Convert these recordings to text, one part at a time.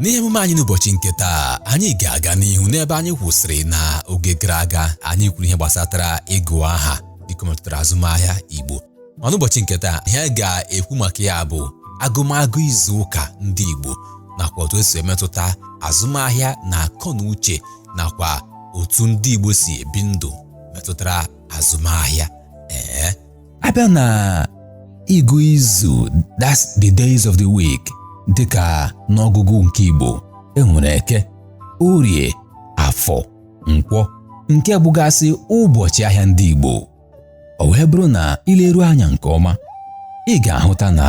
N'ihe emume anyị n'ụbọchị nke taa, anyị ga-aga n'ihu n'ebe anyị kwụsịrị na oge gara aga anyị kwuru ihe gbasatara ịgụ aha dịka metụtara azụmahịa Igbo ma n'ụbọchị nke taa ihe anyị ga-ekwu maka ya bụ agụmagụ izu ụka ndị Igbo nakwa otu esi emetụta azụmahịa na akọ na uche nakwa otu ndị Igbo si ebi ndụ metụtara azụmahịa ee abịa na ịgụ izu that's the days of the week dịka n'ọgụgụ nke Igbo enwere eke orie afọ nkwọ nke bụgasị ụbọchị ahịa ndị Igbo ọ wee bụrụ na ileru anya nke ọma ị ga-ahụta na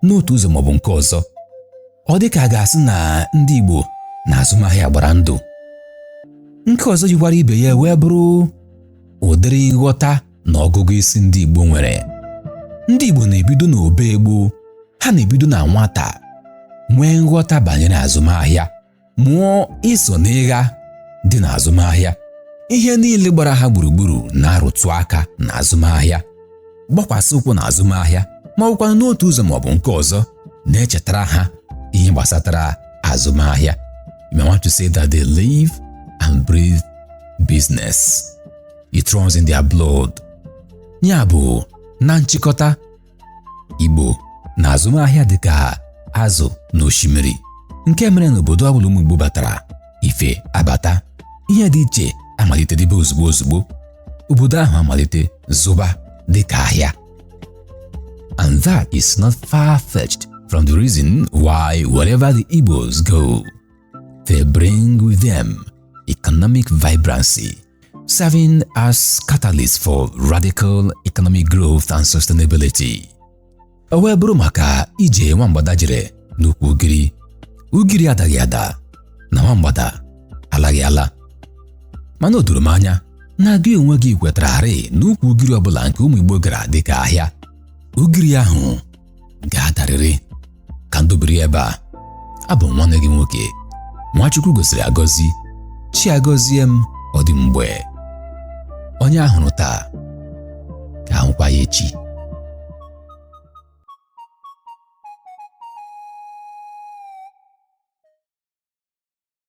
n'otu ụzọ maọbụ nke ọzọ ọ dị ka a ga-asị na ndị Igbo na azụmahịa gbara ndụ nke ọzọ yikwara ibe ya wee bụrụ ụdịrị nghọta na ọgụgụ isi ndị Igbo nwere ndị Igbo na-ebido n'oge gboo ha na-ebido na nwata nwee nghọta banyere azụmahịa mụọ iso n'ịgha dị n'azụmahịa ihe niile gbara ha gburugburu na-arụtụ aka na azụmahịa gbakwasị ụkwụ na azụmahịa ma ọ bụkwanụ n'otu ụzọ ma ọ bụ nke ọzọ na-echetara ha ihe gbasatara azụmahịa you may want to say that they live and breathe business it runs in their blood ya bụ na nchịkọta Igbo na azụmahịa dịka azụ na osimiri nke mere na obodo ọbụla ụmụ Igbo batara ife abata ihe dị iche amalite dịbe ozugbo ozugbo obodo ahụ amalite zụba dịka ahịa and that is not far-fetched from the reason why wherever the Igbos go they bring with them economic vibrancy serving as catalyst for radical economic growth and sustainability. O wee bụrụ maka ije nwa mgbada jere n'ukwu ugiri ugiri adaghị ada na nwa mgbada alaghị ala mana o doro m anya na gị onwe gị kwetararị na ukwu ugiri ọbụla nke ụmụ Igbo gara dịka ahịa ugiri ahụ ga-adarịrị ka m dobiri ebe a abụ m nwanne gị nwoke nwa Chukwu gọziri agọzi Chiagọziem Ọdịmgbe onye ahụrụ taa ka ahụkwa ya echi